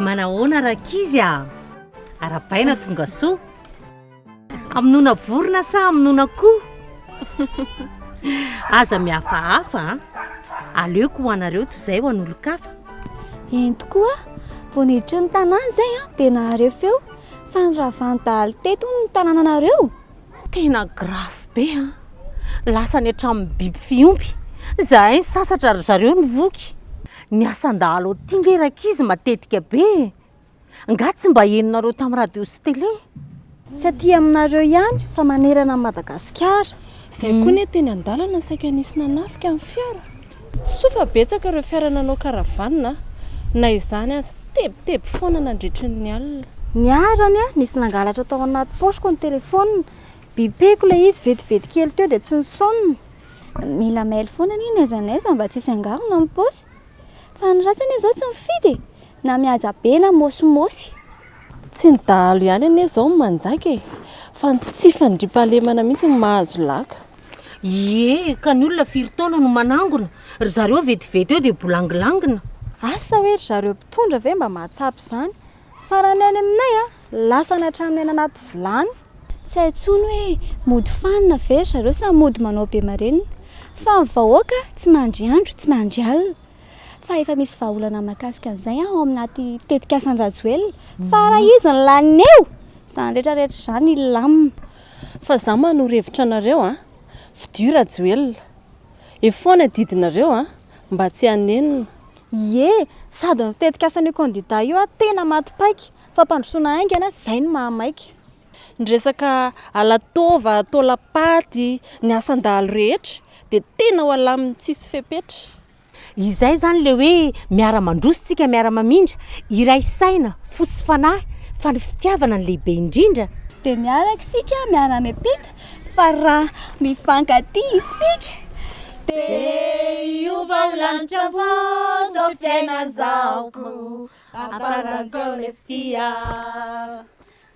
Manahoana rankizy a? Arabaina tonga soa. Hamonoana vorona sa hamonoana akoho? Aza mihafahafa a. Aleoko ho anareo toy izay ho an'olon-kafa. Eny tokoa, vao niditra ny tanàna izay aho dia naharefo feo fa niravan'ny dahalo teto hono ny tanànanareo. Tena grave be an! Lasa any hatramin'ny biby fiompy! Zahay nisasatra ry zareo nivoky! Ny asan-dahalo aty nge rankizy matetika be e! Nga tsy mba henonareo tamin'ny radio sy tele? Tsy aty aminareo ihany fa manerana an'i Madagasikara! Zay koa anie teny an-dalana saika nisy nanafika ny fiara. Soa fa betsaka ireo fiara nanao caravane a! Na izany aza, tebiteby foana nandritry ny alina. Niharany aho, nisy nangalatra tao anaty paosiko ny telefaonina. Bipeko ilay izy, vetivety kely teo dia tsy nisaonina. Mila mail foana anie n'aiza n'aiza mba tsy hisy hangarona amin'ny paosy. Fa ny ratsy anie izao tsy mifidy e! Na mihaja be na mosymosy. Tsy ny dahalo ihany anie izao no manjaika e! Fa ny tsy fandriampahalemana mihitsy no mahazo laka. Ie, ka ny olona firy taona no manangona? Ry zareo vetivety eo dia bolangilangina. Asa hoe ry zareo mpitondra ve mba mahatsapa izany? Fa raha ny any aminay a, lasany hatramin'ny any anaty vilany. Tsy hay intsony hoe mody fanina ve ry zareo sa mody manao be marenina. Fa ny vahoaka tsy mandry andro, tsy mandry alina. Fa efa misy vahaolana mahakasika an'izay ao anaty tetikasan'i Rajoelina. Fa raha izy no lanin'eo, izany rehetra rehetra izany hilamina. Fa za manoro hevitra anareo a! Fidio Rajoelina! Eo foana didinareo a! Mba tsy hanenina! Ie, sady ny tetikasan'io candidat io a tena maty paika, fampandrosoana haingana, zay no maha maika. Ny resaka alatôva, tôlapaty, ny asan-dahalo rehetra dia tena ho alamin'ny tsisy fepetra. Izay izany ilay hoe miara-mandroso isika, miara-mamindra, iray saina, fo sy fanahy, fa ny fitiavana no lehibe indrindra. Dia miaraka isika miara-miampita, fa raha mifankatia isika, dia hiova ho lanitra avokoa izao fiainan-jahoko, amparangoana fitia.